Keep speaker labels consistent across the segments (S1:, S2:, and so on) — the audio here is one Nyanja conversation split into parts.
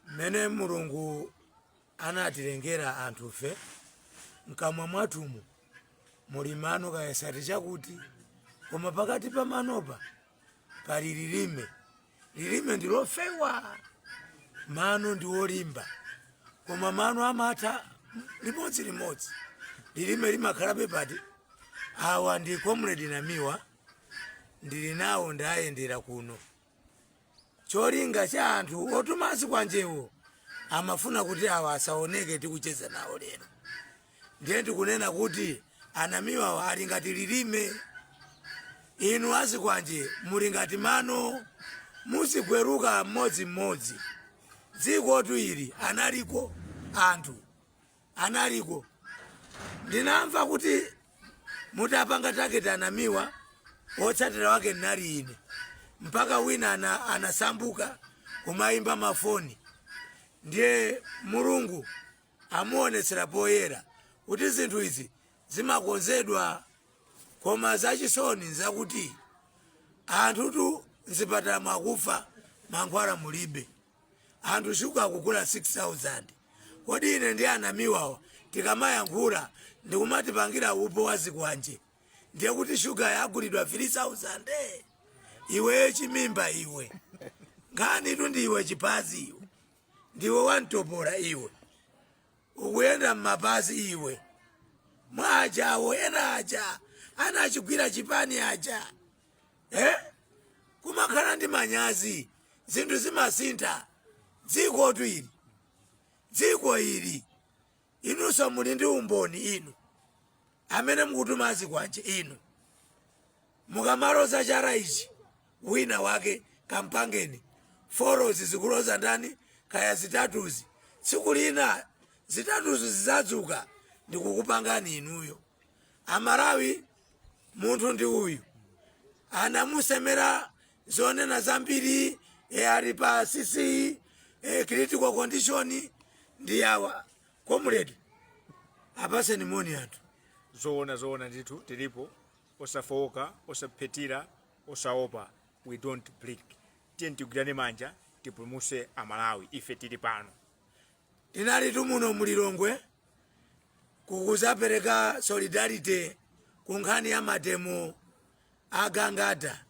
S1: mmene mulungu anatilengera anthufe mkamwa mwathumu muli mano kayesati chakuti koma pakati pa manopa pali lilime lilime ndi lofewa mano ndi olimba koma mano amatha limodzi limodzi lilime limakhalabe pati awa ndi comrade namiwa ndili nawo ndayendera kuno cholinga cha anthu otuma zikwanjewo amafuna kuti awa asaoneke tikucheza nawo lero ndiye ndikunena kuti anamiwawa ali ngati lilime inu azikwanje muli ngati mano muzigweruka mmodzimmodzi dzikotu ili analiko anthu analiko ndinamva kuti mutapanga target anamiwa wotsatira wake ndinali ine mpaka wina ana, anasanduka kumayimba mafoni ndiye mulungu amuonetsera poyera kuti zinthu izi zimakonzedwa koma zachisoni nzakuti anthutu mzipatalamo akufa mankhwala mulibe Anthu sugar kugula 6000 kodi ine ndi anamiwawa tikamayankhula ndikumatipangira upo wa zikwanje ndiye kuti sugar yagulidwa 3000? Iweyo chimimba iwe nkhanitu ndi iwe chiphazi iwe ndiwe wamtopola iwe ukuyenda mmapazi iwe mwa ajawo ena aja anachigwira chipani aja eh? kumakhala ndi manyazi zinthu zimasintha dzikotu ili dziko ili inunso muli ndi umboni inu amene mukutuma azikwanje inu mukamaloza chala ichi wina wake kampangeni fourzi zikuloza ndani kaya zitatuzi tsiku lina zitatuzi zizadzuka ndikukupangani inuyo amalawi munthu ndi uyu anamusemera zonena zambiri e, ali pa cc e, critical condition ndi awa comrade apaseni moni anthu zoona
S2: zoona ndithu tilipo osafowoka osaphethira osaopa we don't blink tiyeni tigwirane manja tipulumuse amalawi ife tili pano
S1: Tinalitu muno mu Lilongwe kukuzapereka solidarity ku nkhani ya mademo a Gangata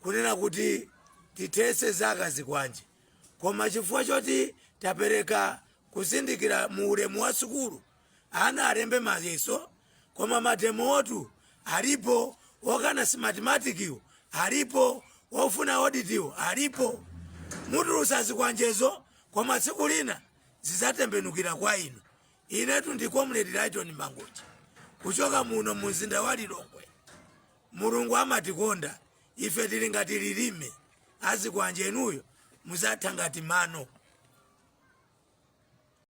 S1: kunena kuti tithese za kazikwanje koma chifukwa choti tapereka kuzindikira mu ulemu wa sukulu ana alembe mayeso koma mademowotu alipo okana simatimatikiwo alipo ofuna oditiwo alipo mutulusa zikwanjezo koma tsiku lina zizatembenukira kwa inu inetu ndi comrade lighton mangochi kuchoka muno mu mzinda wa lilongwe mulungu amatikonda ife tili ngati lilime azikwanje inuyo muzatha ngati mano